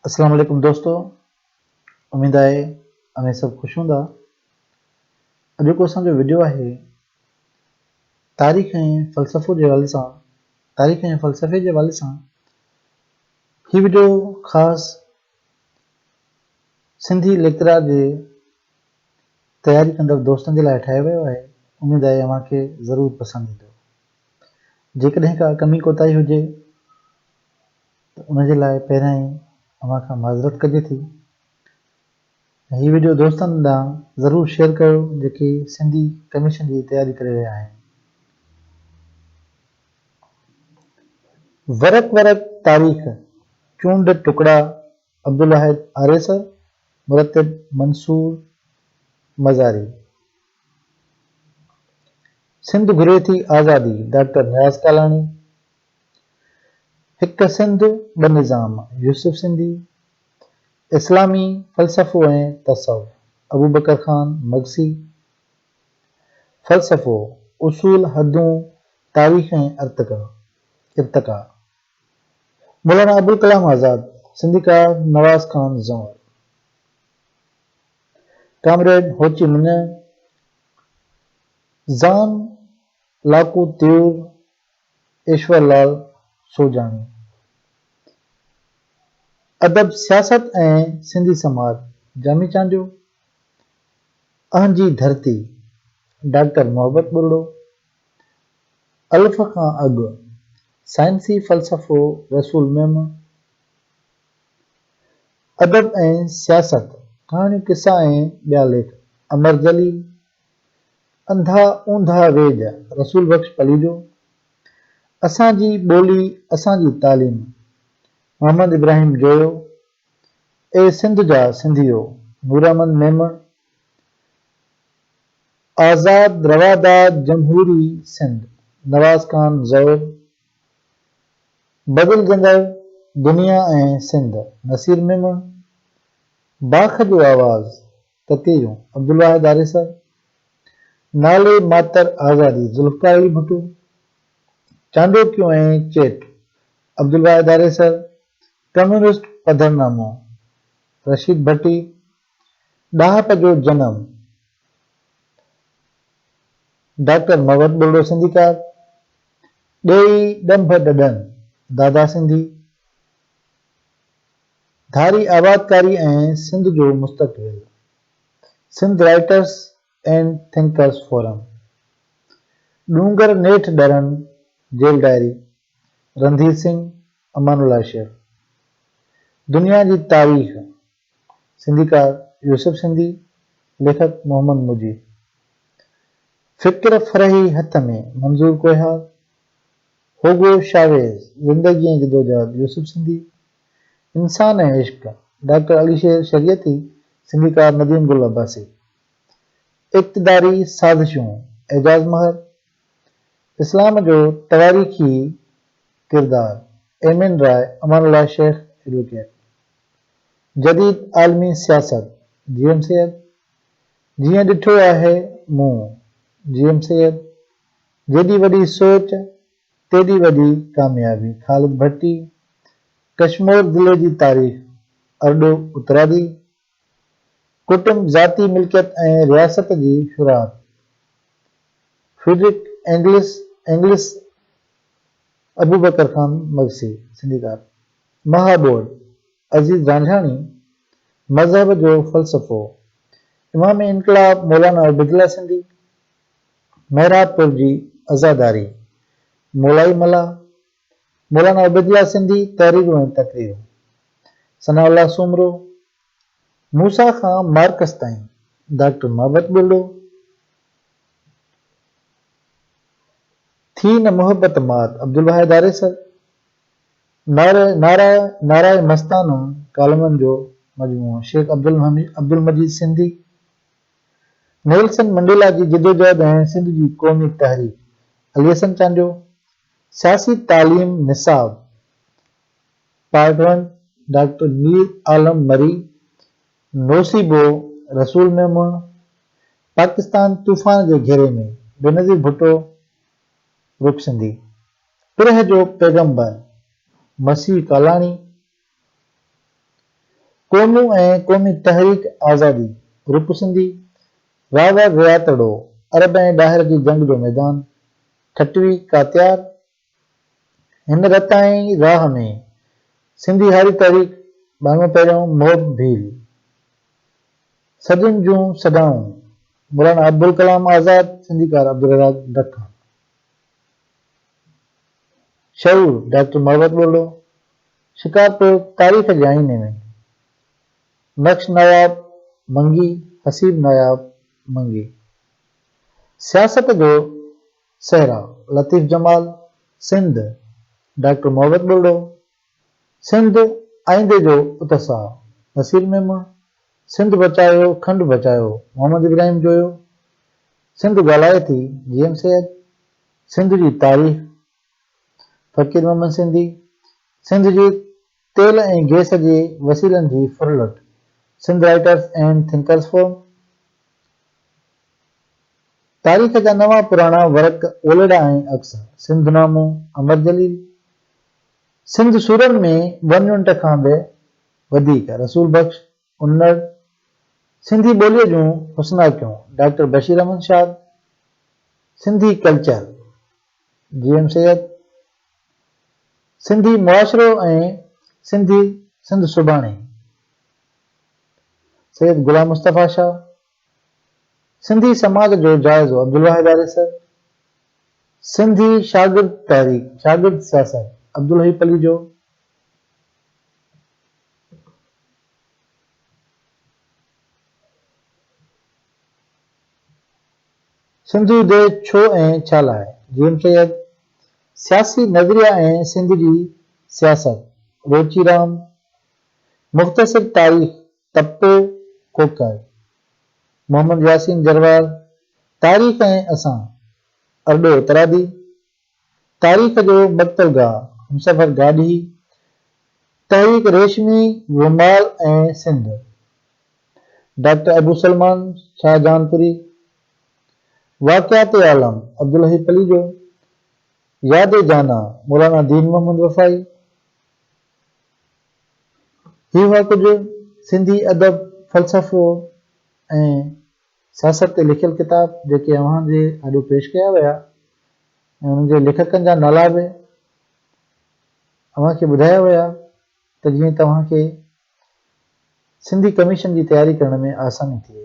اسلام عليڪم دوستو اميد آهي اوهين سڀ خوش هوندا اڄوڪو اسان جو وڊيو آهي تاريخ ۽ فلسفو جي حوالي سان تاريخ ۽ فلسفي جي حوالي سان هي وڊيو خاص سنڌي ليڪچرار جي تياري ڪندڙ دوستن جي لاء ٺاهيو ويو آهي اميد آهي اوهان کي ضرور پسند ايندو جيڪڏهن ڪا ڪمي ڪوتاهي هجي ته ان جي لاء پهريان ئي اوهان کان معذرت ڪجي ٿي ۽ هي وڊيو دوستن ڏانهن ضرور شيئر ڪيو جيڪي سنڌي ڪميشن جي تياري ڪري رهيا آهن. ورق ورق تاريخ چونڊ ٽڪڙا عبدالواحد آريسر مرتب منصور مزاري. سنڌ گهري ٿي آزادي، ڊاڪٽر نياز ڪالاڻي هڪ سنڌ ٻه نظام، يوسف سنڌي اسلامي فلسفو ۽ تصوف، ابوبڪر خان مگسي فلسفو، اصول، حدون، تاريخ ۽ ارتقا، ارتقا، مولانا ابوالڪلام آزاد، سنڌيڪار Nawaz Khan Zaur. Comrade Ho Chi Minh, زان لاکو تيور، ايشور لال سوجاڻي. ادب، سياست ۽ سنڌي سماج، جامي چانڊيو. اهن جي ڌرتي، ڊاڪٽر محبت ٻرڙو. الف کان اڳ، سائنسي فلسفو رسول ميمڻ. ادب ۽ سياست، ڪهاڻيون قصا ۽ ٻيا ليک، امر جليل، انڌا اونڌا ويڄ، رسول بخش پليجو، اسان جي ٻولي اسان جي تعليم، محمد ابراهيم جويو، اي سنڌ جا سنڌيو، نوراحمد ميمڻ، آزاد رواداد جمهوري سنڌ، نواز خان زئور، بدلجندڙ دنيا ۽ سنڌ، نصير ميمڻ، باک جو آواز، تتيريون، عبدالواحد آريسر، نالي ماتر آزادي، ذوالفقار علي ڀٽو، چانڊوڪيون ۽ چيٽ، عبدالواحد آريسر، ڪميونسٽ پڌرنامو، رشيد ڀٽي، ڏاهپ جو جنم، ڊاڪٽر مروت ٻرڙو سنڌيڪار، ڏيئي ڏنڀ ڏڏن، دادا سنڌي، ڌاري آبادڪاري ۽ سنڌ جو مستقبل، Sindh writers and thinkers forum, ڏونگر نيٺ ڏرن، جيل ڊائري، رنڌير سنگهه، امان الله شيخ، دنيا جي تاريخ، سنڌيڪار يوسف سنڌي، ليکڪ محمد مجيب. فڪر فرحي هٿ ۾، منظور ڪوهيار. هوگو شاويز، زندگي ۽ جدوجهد، يوسف سنڌي. انسان ۽ عشق، ڊاڪٽر علي شير شريعتي، سنڌيڪار نديم گل عباسي. اقتداري سازشون، اعجاز مهر. اسلام جو تواريخي ڪردار، ايمين راء، امان الله شيخ ايڊووڪيٽ. جديد عالمي سياست جيئن سيد جيئن ڏٺو آهي مون جيئن سيد جيڏي وڏي سوچ تيڏي وڏي ڪاميابي خالد ڀٽي ڪشمور ضلعي جي تاريخ ارڏو اترادي ڪٽنب ذاتي ملڪيت ۽ رياست جي شروعات Friedrich Engels Engels Abubakar Khan Magsi سنڌيڪار مهاٻول عزيز رانجهاڻي مذهب جو فلسفو امام انقلاب مولانا عبيدالله سنڌي محراب پور جي عزاداري مولائي ملاح مولانا عبيدالله سنڌي تحريرون ۽ تقريرون ثناء الله سومرو موسيٰ کان مارڪس تائين ڊاڪٽر محبت ٻرڙو ٿي نه محبت مات عبدالواحد آريسر نعره نعره نعره مستانه ڪالمن جو مجموعو شيخ عبدالمجيد سنڌي نيلسن منڊيلا جي جدوجهد ۽ سنڌ جي قومي تحريڪ علي حسن چانڊيو سياسي تعليم نصاب part one doctor Mir Alam Marri نوسيبو رسول ميمڻ پاڪستان طوفان جي گهيري ۾ بينظير ڀٽو رڪ سنڌي پرهه جو پيغمبر مسيح ڪالاڻي، قومون ۽ قومي تحريڪ آزادي، روپ سنڌي، راوڙ رياتڙو، عرب ۽ ڏاهر جي جنگ جو ميدان، ٺٽوي، ڪاتيار، هن رتائين راهه ۾، سنڌي هاري تحريڪ، ٻانوئن پهريون، محب ڀيل، سڄن جون سڏائون، مولانا ابوالڪلام آزاد، سنڌيڪار عبدالرزاق ڊکا. شعور، ڊاڪٽر محبت ٻرڙو، شڪارپور، تاريخ جي آئيني ۾، نقش نواب منگي، حسيب نواب منگي، سياست جو صحرا، لطيف جمال، سنڌ، ڊاڪٽر محبت ٻرڙو، سنڌ آئيندي جو اتساهه، نصير ميمڻ، سنڌ بچايو کنڊ بچايو، محمد ابراهيم جويو، سنڌ ڳالهائي ٿي، جي ايم سيد، سنڌ جي تاريخ، فقير محمد سنڌي، سنڌ جي تيل ۽ گئس جي وسيلن جي ڦرلٽ، Sindh writers and thinkers forum, تاريخ جا نوان پراڻا ورق اولڙا ۽ عڪس، سنڌ نامو، امر جليل، سنڌ سرن ۾ ون يونٽ کان به وڌيڪ رسول بخش انڙ سنڌي ٻوليء جون حسناڪيون doctor Bashir Ahmed Shad Sindhi culture G M Syed Sindhi معاشرو ۽ سنڌي سنڌ سڀاڻي سيد غلام مصطفيٰ شاهه سنڌي سماج جو جائزو عبدالواحد آريسر، سنڌي شاگرد تحريڪ، شاگرد سياست، عبدالحئي پليجو، سنڌو دي ڇو ۽ ڇا لاء، جي ايم سيد، سياسي نظريا ۽ سنڌ جي سياست، روچي رام، مختصر تاريخ، تپو ڪوڪاي، محمد ياسين جروار، تاريخ ۽ اسان، ارڏو اترادي، تاريخ جو مقتل گاهه، همسفر گاڏهي، تحريڪ ريشمي رومال ۽ سنڌ، ڊاڪٽر ابوسلمان شاهجهانپوري، واقعات عالم، عبدالحي پليجو، ياد جانان، مولانا دين محمد وفائي، هي هئا ڪجهه سنڌي ادب، فلسفو ۽ سياست تي لکيل ڪتاب جيڪي اوهان جي آڏو پيش ڪيا ويا ۽ انهن جي ليکڪن جا نالا به اوهان کي ٻڌايا ويا ته جيئن توهان کي سنڌي ڪميشن جي تياري ڪرڻ ۾ آساني ٿئي.